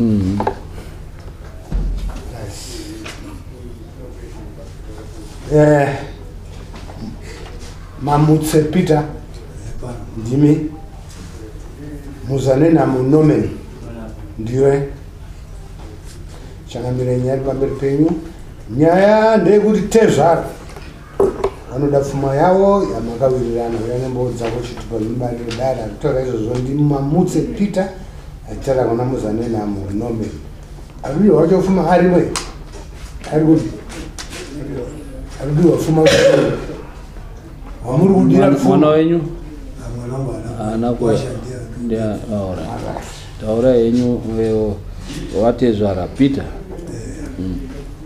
Mm -hmm. eh, mamutse peter ndimi muzanena munomen ndiwe changamire nyaya pamberi penyu nyaya ndeyekuti tezvara vanoda pfuma yavo yamakawirirana uya nembowo dzako chiti panobarire dare akutaura izvozvo ndimamutse peter achitaura kuna muzanenhamo nomen akudiwa wacho pfuma arimwe ari kuti akudiwa pfuma wamuri kudira mwana wenyu taura henyu vatezvara peter eh. mm.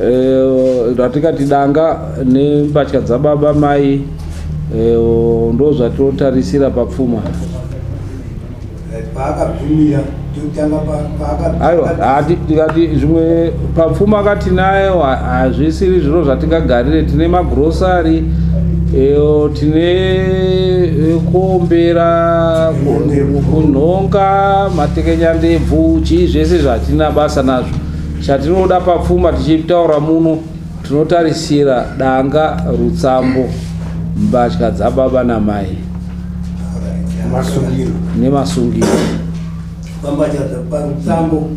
Eh, ratikati danga nembatya dzababa mai eh, ndo zvatinotarisira papfuma eh, paakagumira aiwa tikati zvimwe papfuma akati nayo hazvisiri zviro zvatingagarire tine magrosari tine kuombera kunhonga matekenyandebvu chii zvese zvatina basa nazvo Chatinoda papfuma tichitaura muno tinotarisira danga, rutsambo, mbatya dzababa namai masungiro nemasungiro pambatya parutsambo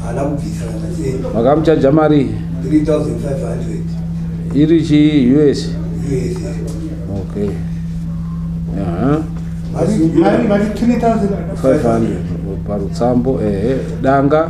haana kubvisa kana sei vakamuchaja marii 3500 iri chii us yes okay Aha. mari mari 3500 500 parutsambo ehe danga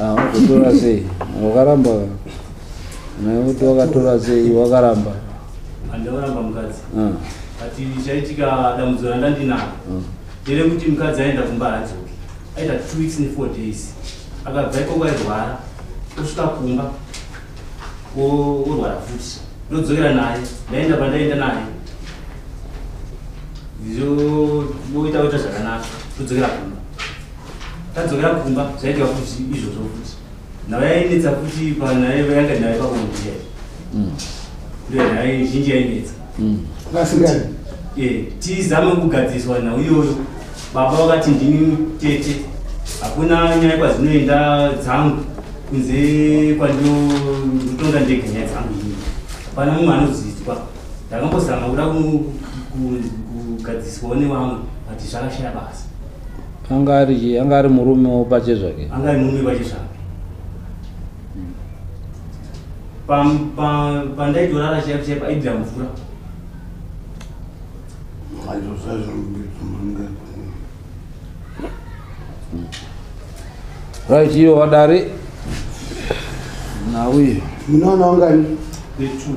Ah, wakatora sei wakaramba kuti wakatora sei wakaramba andakaramba mukadzi ah. ati chaitika dambudziko randandinaro ah. ndere kuti mukadzi aenda kumba haadzoki aita two weeks nefour days akabva ikoko airwara osvika kumba orwara futi ndodzokera naye ndaenda pandaenda naye zvoita kuita zvakanaka todzokera kumba tadzokera kumba zvaitika kuti izvozvo futi nhau yainetsa futi panayanga nhau pakumundiya mm. ndo nhau zhinji yainetsa mm. eh, tizame kugadziswa nhau iyoyo baba vakati ndini tete hakuna nyaya kwazinoenda dzangu kunze kwandinotonga ndega nyaya dzangu ini hapana mumwe anozidzwa ndakambozama kuda kugadziswawo nevamwe but zvakashaya basa anga ari chii anga ari murume wopache zvake anga ari murume pache zvake pandaitorara chaipo chaipo aibvira mvura right iwe wadari nauye munoona ungani the two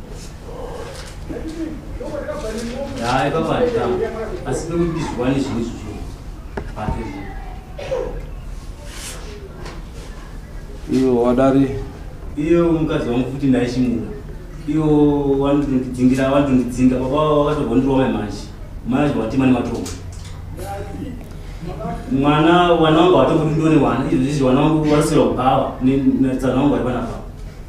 Hai baba nditama. Asi pekuti ndizviwane zvinhu izvi zvinhu. Pake zvinhu. iyo wadari Iyo mukadzi wangu futi ndaishimura. Iyo wanondidzingira wanondidzinga baba wakatobondirwa mai manje. Mai acho watima nematombo. Mwana wana wangu watomboti ndone wana izvi izvi wana wangu warisira kubawa. Ni na tsana wangu waiwana baba.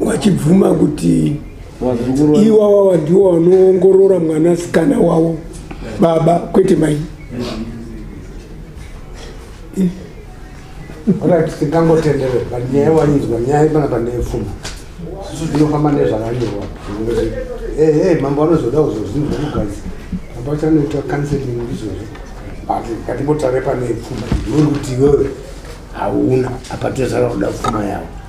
vachibvuma kuti iwawawa ndiwo vanoongorora mwana sikana wavo baba kwete mai tingangotenderera but nyaya wanyinzwa nyaya pana pandeyepfuma inofamba nezvakanyorwa ehe mambo anozoda kuzozvinhu zvekugazi mambo achanoita counseling izvozvo but katimbotare pane pfuma iwe kuti iwewe hauna apatezara kuda pfuma yavo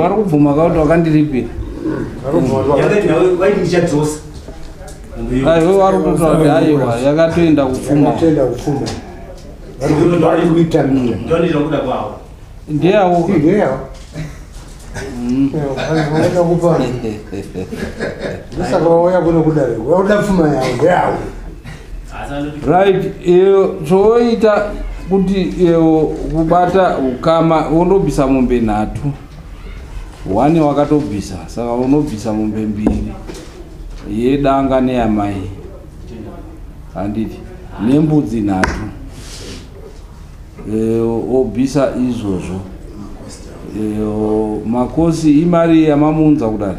vari kubvuma kauti wakandiripira aiwe wari kutotaura kuti aiwa yakatoenda kupfuma ndeyawo ndosaka vauya kuno kudare vauda pfuma yavo ndeyawo right iyo chooita kuti iyo kubata ukama unobvisa mombe nhatu one wakatobvisa saka unobvisa mombe mbiri yedanga neyamai handiti nembudzi nhatu e, obvisa izvozvo e, makosi imari yamamuunza kudari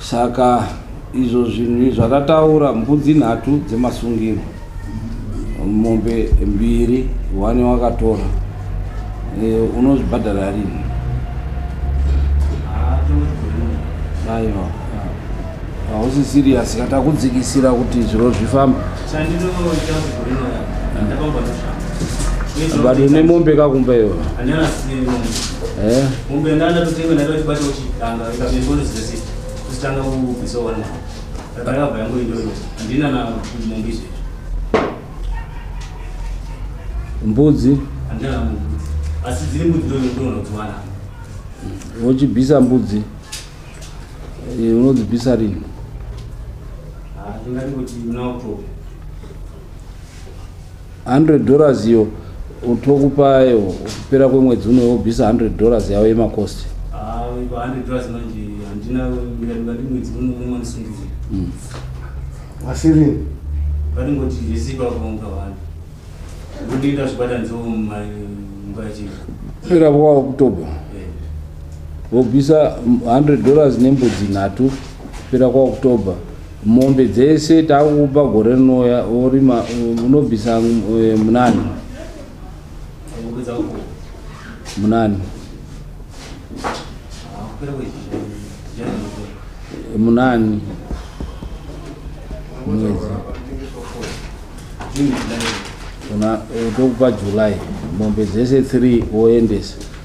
Saka izvo zvinhu izvo atataura mbudzi nhatu dzemasungiro mombe mbiri one wakatora e, unozvibhadhara rini aiwa hausi siriyasi ka takudzikisira kuti zviro zvifamba bado nemombe kakumba iyoyo mbudzi wochibvisa mbudzi unodzibvisa rini 100 dollars iyo tokupa iyo kupera kwemwedzi uno wobvisa 100 dollars yavo yemacost ah, mm. asiri patingoti vese pakuonga vanhu kundiita zvibatanidza mumba chii irapo kwavo oktober vobvisa 100 dollars nembudzi nhatu pera kwaoktober Mombe dzese takukupa gore rinouya worima unobvisa eh, munani munani munani mwedzi tokupa july mombe dzese 3 woendesa